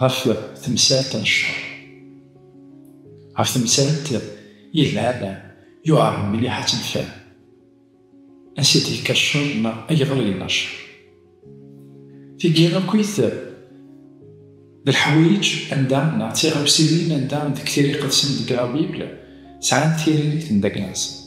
ɣef temsalt n cceṛ. Ɣef temsalt yelhan, yuɛer mliḥ ad tt-nefhem. Ansi i d-yekka cceṛ neɣ ayɣer i yella cceṛ? Tigi akkit d leḥwayeǧ anda neɣ d tiɣawsiwin anda deg tiriqet-nsen deg La Bible sɛant tiririt n dagla-nsent.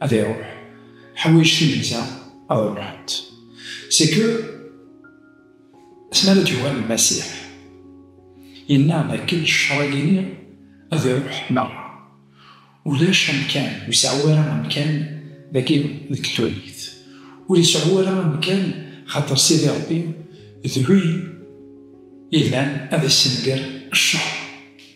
ad iruḥ ḥwayeǧ timenza ad ruḥent seke asmara d-yuɣal Lmasiḥ yenna dakken ccer-agi-nni ad iruḥ merra ulac amkan ur iseɛɛu ara amkan dagi deg tulit ur iseɛɛu ara amkan xaṭer Sidi Ṛebbi d win yellan ad issenger ccer.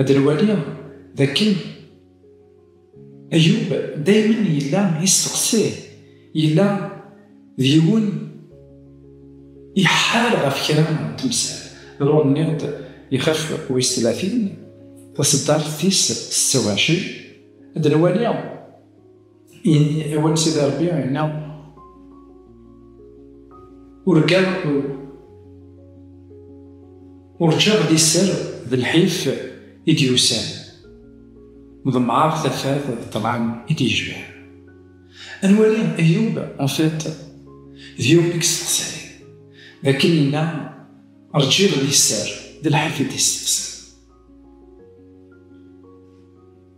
Ad nwaliɣ d akken Ayub daymen yella yesteqsi, yella d yiwen iḥḥal ɣef kra n temsal. Lur nniɣ-d ixef wis tlatin, taseddart tis setta u ɛecrin, ad nwaliɣ. Yenni i win sidi Rebbi yenna, urgaɣ urǧaɣ di sser d lḥif i d-yusan, ḍemɛeɣ tafat d ṭṭlam i d-yejban. Ad nwali Eyyub, en fait, d Yob i yesteqsayen, d akken yenna rǧiɣ di sser d lḥif i d-yesteqsayen.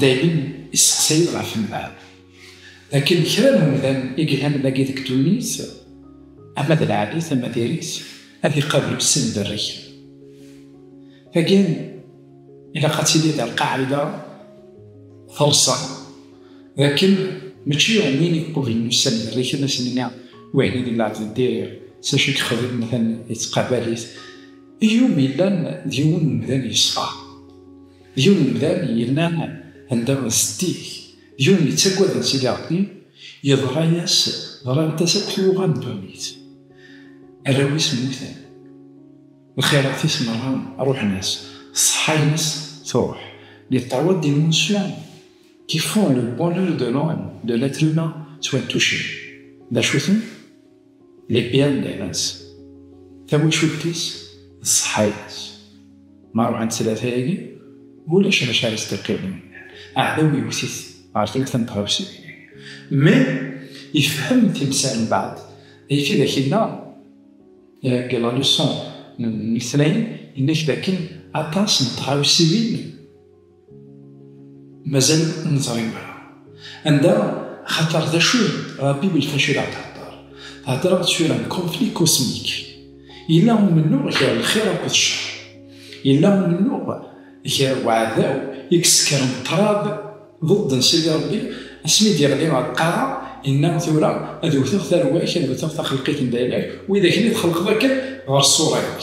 Dayem i sseqsayen ɣef mbeɛd, akken kra n umdan i yellan dagi deg ddunit, ama d lɛali-t ama d iri-t, ad iqabel s lberrik. Tagi ilaq ad tili d lqaɛida teṛṣa, d akken mačči win iqublen ussan iberriken ad sen-nini wihin d lɛebd n diri, s acu i yexdem atan yettqabal-it, i yumi yellan d yiwen n umdan yeṣfa. Yiwen umdan yella anda setti-k, yiwen yettaggaden Sidi Ṛebbi, yeḍra-yas, ḍrant-as akk twuɣa n ddunit. Arraw-is mmuten, lxirat-is meṛṛa ṛuḥen-as, ṣṣeḥḥa-ines tṛuḥ. Les paroles d'émotion qui font le bonheur de l'homme, de l'être humain, ttwantucen. D acu-ten? Lipyam d ayla-s, tawacult-is d ṣṣeḥḥa-ines. Ma ruḥent tlata-agi, ulac d acu ara s-d-iqqimen. Aɛdaw yewwet-it ɣer telt n tɣawsiwin. Mi ifhem timsal mbeɛd, ayefki d ak-yenna deg la leçon n letnayen, yenna-k d akken aṭas n tɣawsiwin, مازال ur neẓri ara anda axaṭer d acu ɣef Bibelt acu i la ɣ-theddeṛ. Theddeṛ-aɣ-d tura n conflit cosmique. Yella umennuɣ gar lxiṛ akked cceṛ. Yella umennuɣ gar uɛdaw i yessekṛen ṭṭrad ḍeḍḍ n Sidi Ṛebbi, asmi d-yeɣli ɣer lqaɛa, yenna, Tura ad wwteɣ tarwa-k, ad wwteɣ taxelqit n Dayla-k, wid akken i txelqeḍ akken ɣer ṣṣura-k.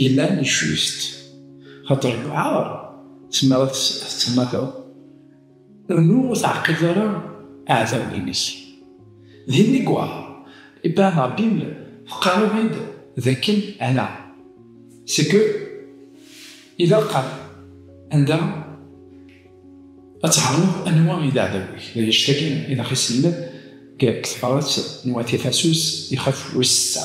Yellan yecwist, xaṭer lewɛar tezmer ad t-temmateḍ, rnu ur teɛqileḍ ara iɛdawen-inek. D inegwa Ibn Abim teqqareḍ-id d akken ala, c'est que ilaq ad anda ad tɛerneḍ anwa i d aɛdaw-ik, d annect-agi i d aɣ-iselmed deg tebrat n Wat Ifasus ixef wis setta.